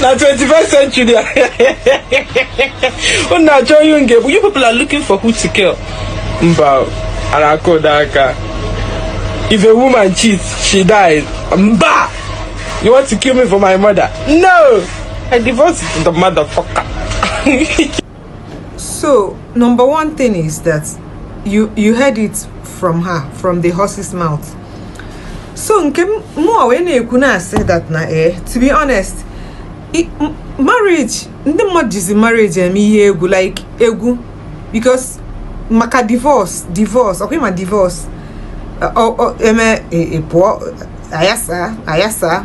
na 21st century unu achọ ihe nge bụ you people are looking for who to kill mba ara aka ụda aka if a woman cheats she dies mba you want to kill me for my mother no i divorce the motherfucker So, number one thing is that you you heard it from her from the horse's mouth. So nke mụ wee na-ekwu na-asị that na eh to be honest marriage ndị mmadụ jizi marriage eme ihe egwu like egwu because maka divorce divorce ọkwa ma divorce eme e, e, pụọ ayasa ayasa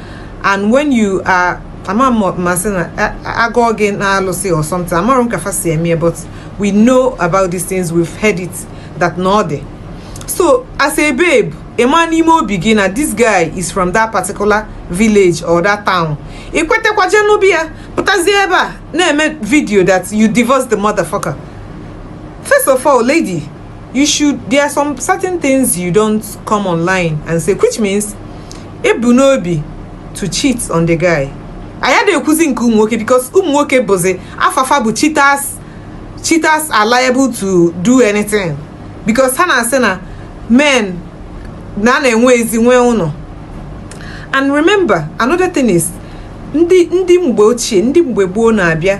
and when you are ama m ma sị na a gọọ gị n'alụsị or something amarọ m ka fa si eme but we know about these things we've heard it that na ọ dị so as a babe ị ma n'ime obi gị na this guy is from that particular village or that town ị kwetakwa jee nụọ bịa pụtazie ebe a na-eme video that you divorce the motherfucker first of all lady you should there are some certain things you don't come online and say which means i bu n'obi to cheat on the guy anyị ada ekwuzi nke ụmụ nwoke because ụmụ nwoke bụzi afa fa bụ cheaters cheaters are liable to do anything because ha na-asị na men na na-enwe ezi nwee ụnọ and remember another thing is ndị ndị mgbe ochie ndị mgbe gboo na-abịa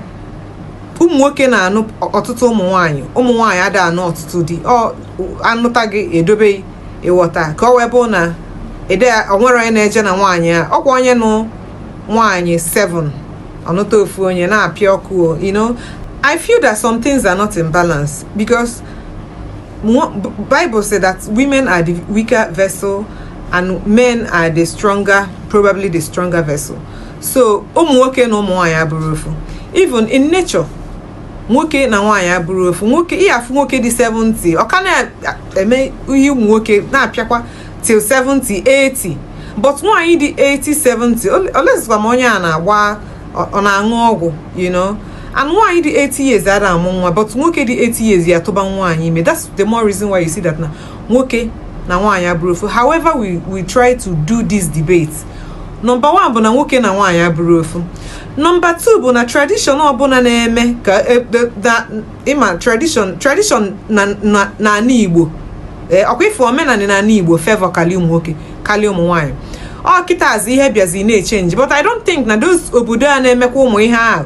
ụmụ nwoke na-anụ ọtụtụ ụmụ nwaanyị ụmụ nwaanyị ada anụ ọtụtụ di a nụta gị e dobe ị ghọta ka ọ wee bụ na ede o nwere onye na-eje na nwaanyị a ọkwa onye nụ nwaanyị 7 ọ nụta ofu onye na-apịa ọkụ you know I feel that some things are not in balance because Bible say that women are the weaker vessel and men are the stronger probably the stronger vessel so ụmụ nwoke na ụmụ nwaanyị abụrọ ofu even in nature nwoke na nwaanyị abụrọ ofu nwoke ị ya-afụ nwoke dị 70 ọ ka na-eme ihe ụmụ nwoke na-apịakwa till 70 80 but nwaanyị dị 80 70 belụzikwa ma onye a na-agba ọ ọ na-aṅụ ọgwụ you know and nwaanyị dị 80 years ada amụ nwa but nwoke dị 80 years ya-atụba nwaanyị ime that's the more reason why you see that na nwoke na nwaanyị abụrọ ofu however we we try to do this debate number 1 bụ na nwoke na nwaanyị abụrọ ofu number 2 bụ na tradition ọbụna na-eme ka e, ị ma tradition tradition na n'ana Igbo e, ọkwa ife omenana n'ana Igbo favour kalị ụmụ nwoke kalị ụmụ nwaanyị ọ kịtazi ihe bịazi na-echange but I don't think na those obodo a na-emekwa ụmụ ihe ahụ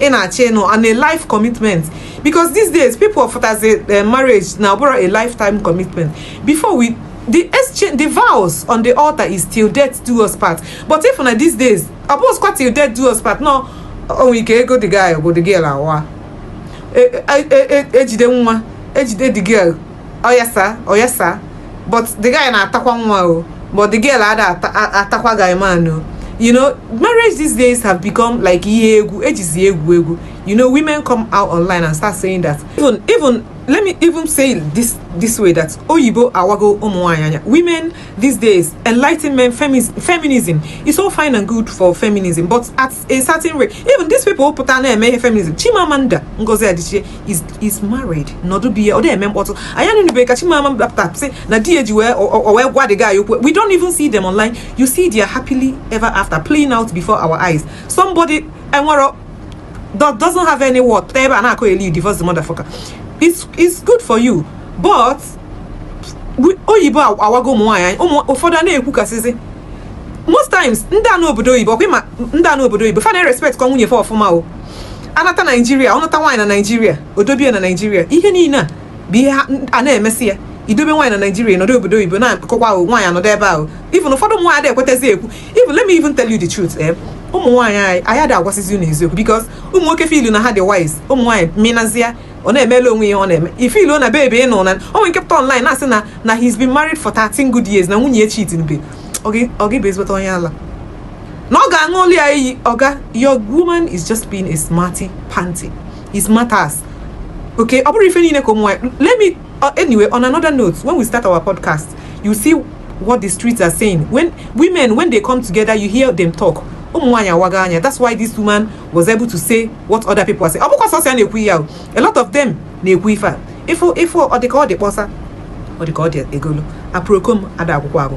ị na-achọ ịnụ on a life commitment because these days people afụzi eh, marriage na ọ bụrọ a lifetime commitment before we the exchange the vows on the altar is till death do us part but ị fụ na these days ọ bụrọzi kwa till death do us part no o nwee ike ego the guy gwụ the girl awaa ejide e, e, e, nwa ejide the girl oyesa oyesa but the guy na-atakwa nwa o but the girl ada atakwa guy man o you know marriage these days have become like ihe egwu ejizi egwu egwu you know women come out online and start saying that even even let me even say this this way that oyibo awago umuanyanya women these days enlightenment feminism is all fine and good for feminism but at a certain way even these people pụta na-eme ihe feminism chimamanda ngozi adichie is is married nọdụ be ya ọ na-eme mkpọtụ anyị anụnubeghị ka chimamanda pụta sị na di ya ji wee o wee gwa the guy okwu we don't even see them online you see their happily ever after playing out before our eyes somebody enwerọ that doesn't have any word pụta ebe a na-akọyeli you divorce the motherfucker it's, it's good for you but oyibo awago ụmụ nwaanyị ụfọdụ a na-ekwukasịzi most times ndị a nọ obodo oyibo ọkwa ị ma ndị a nọ obodo oyibo fa na-erespectkwa nwunye fa ọfụma ọ nata naijiria ọ nụta nwaanyị na naijiria o dobie na naijiria ihe niile a bụ ihe ha- a na-emesị ya i dobe nwaanyị na naijiria nọdụ obodo oyibo na-akọkwa ahụ nwaanyị anọdụ ebe ahụ even ụfọdụ ụmụ nwaanyị adị ekwetazi ekwu even let me even tell you the truth eh ụmụ nwaanyị anyị anyị adị agwasịzi unu eziokwu because ụmụ nwoke feelu na ha dị wise ụmụ nwaanyị minazia ọ na-emele onwe ya ọ na-eme ife i lo na baby ị nụ na o nwere nke pụta online na-asị na na he's been married for 13 good years na nwunye ya echeatinube ọ gị ọ gị bụ ezigbote onye ala na ọ ga-aṅụlụ ya iyi ọga your woman is just being a smarty panty is matters okay ọ bụrụ ife niile ka ụmụ nwanyị let me uh, anyway on another note when we start our podcast you see what the streets are saying when women when they come together you hear them talk ụmụ nwanyị awaga anya that's why this woman was able to say what other people are saying ọ bụkwa sọsọ ya na-ekwu ya o a lot of them na-ekwu ife a ị fụ ị fụ ọ dị ka ọ dị kpọsa ọ dị ka ọ dị egolo aproko m ada akwụkwọ agụ